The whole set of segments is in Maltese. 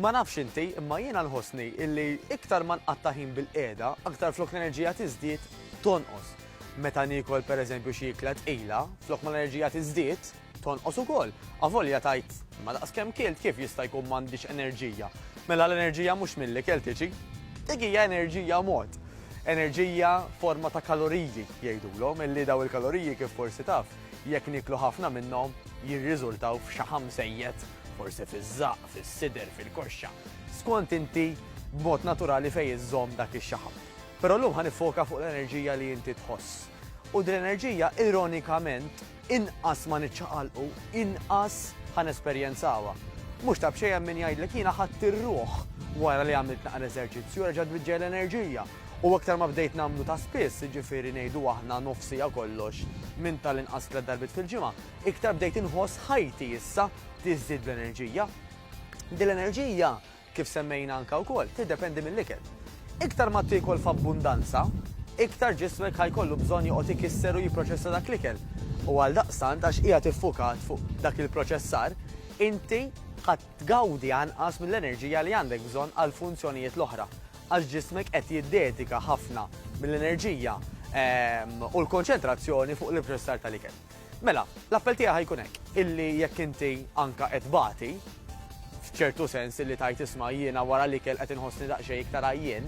Ma nafx inti, imma jiena nħossni illi iktar ma nqatta' ħin bil-qiegħda, aktar flok l-enerġija tiżdied, tonqos. Meta niekol pereżempju xi ikla tqila, flok ma l-enerġija tiżdied, tonqos ukoll. Avolja tgħid, imma daqskemm kilt kif jista' jkun m'għandix enerġija? Mela l-enerġija mhux mill-ikel tiġi. Dik hija enerġija mod. Enerġija forma ta' kaloriji, jgħidulhom, illi daw il-kaloriji kif forsi taf, jekk nieklu ħafna minnhom, jirriżultaw f'xaħam żejjed, forsi fiż-żaqq. fis-sider, fil-koxxa, skont inti b'mod naturali fejn iżżomm dak ix-xaħam. Però llum ħa niffoka fuq l-enerġija li inti tħoss. U din l-enerġija ironikament inqas ma niċċaqalqu, inqas ħa nesperjenzawha. Mhux ta' b'xejn hemm min jgħidlek jiena ħadt ir-ruħ wara li għamilt naqra eżerċizzju, reġgħet tbiġġej l-enerġija. U aktar ma bdejt nagħmlu ta' spiss, jiġifieri ngħidu aħna nofsija kollox minn tal-inqas tliet darbiet fil-ġimgħa, iktar bdejt inħoss ħajti issa tiżdied bl-enerġija. Din l-enerġija, kif semmejna anke wkoll, tiddependi mill-ikel. Iktar ma tiekol f'abbundanza, iktar ġismek ħa jkollu bżonn joqgħod ikisser u jipproċessa dak l-ikel. U għaldaqstant, għax qiegħed iffukat fuq dak il-proċessar, inti ħa tgawdi anqas mill-enerġija li għandek bżonn għall-funzjonijiet l-oħra, għax ġismek qed jiddedika ħafna mill-enerġija u l-konċentrazzjoni fuq l-ipproċessar tal-ikel. Mela, l-appell tiegħi ħajkun hekk, illi jekk inti anka qed bagħti, f'ċertu sens illi tajt isma' jiena wara l-ikel qed inħossni daqsxejn iktar għajjien,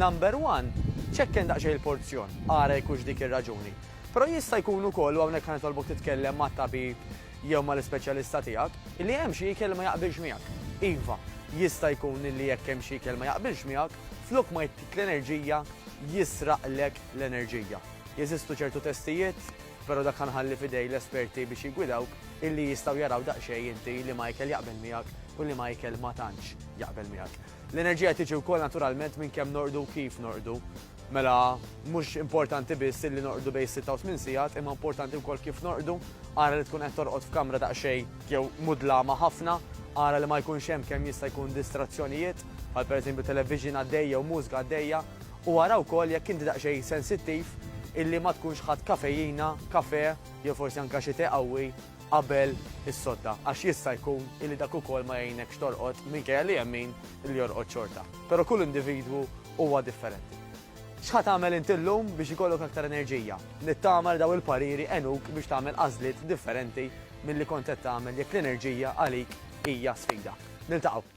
number one, ċekken daqsxejn il-porzjon, ara jekk hux dik ir-raġuni. Però jista' jkun ukoll, u hawnhekk ħa nitolbok titkellem mat-tabib jew mal-ispeċjalista tiegħek, illi hemm xi ikel li ma jaqbilx miegħek. Iva, jista' jkun illi jekk hemm xi ikel ma jaqbilx miegħek, flok ma jtik l-enerġija, jisraqlek l-enerġija. Jeżistu ċertu testijiet? Però dak ħanħalli f'idej l-esperti biex jiggwidawk illi jistgħu jaraw daqsxejn inti li Michael jaqbel miegħek u li Michael ma tantx jaqbel miegħek. L-enerġija tiġi wkoll naturalment minn kemm norqdu u kif norqdu. Mela, mhux importanti biss illi norqdu bejn is-sitta u tmien sigħat imma importanti wkoll kif norqdu. Ara li tkun qed torqod f'kamra daqsxejn jew mudlama ħafna, ara li ma jkunx hemm kemm jista' jkun distrazzjonijiet, bħal pereżempju television għaddej jew mużika għaddejja. u ara wkoll jekk inti daqsxejn sensittiv illi ma tkunx ħadt kafejina, kafè jew forsi anke xi te qawwi qabel is-sodda għax jista' jkun illi dak ukoll ma jgħinekx torqod minkejja li hemm min li jorqod xorta. Però kull individwu huwa differenti. X'ħa tagħmel int illum biex ikollok aktar enerġija? Nittama li dawn il-pariri għenuk biex tagħmel għażliet differenti milli kont qed tagħmel jekk l-enerġija għalik hija sfida. Niltaqgħu!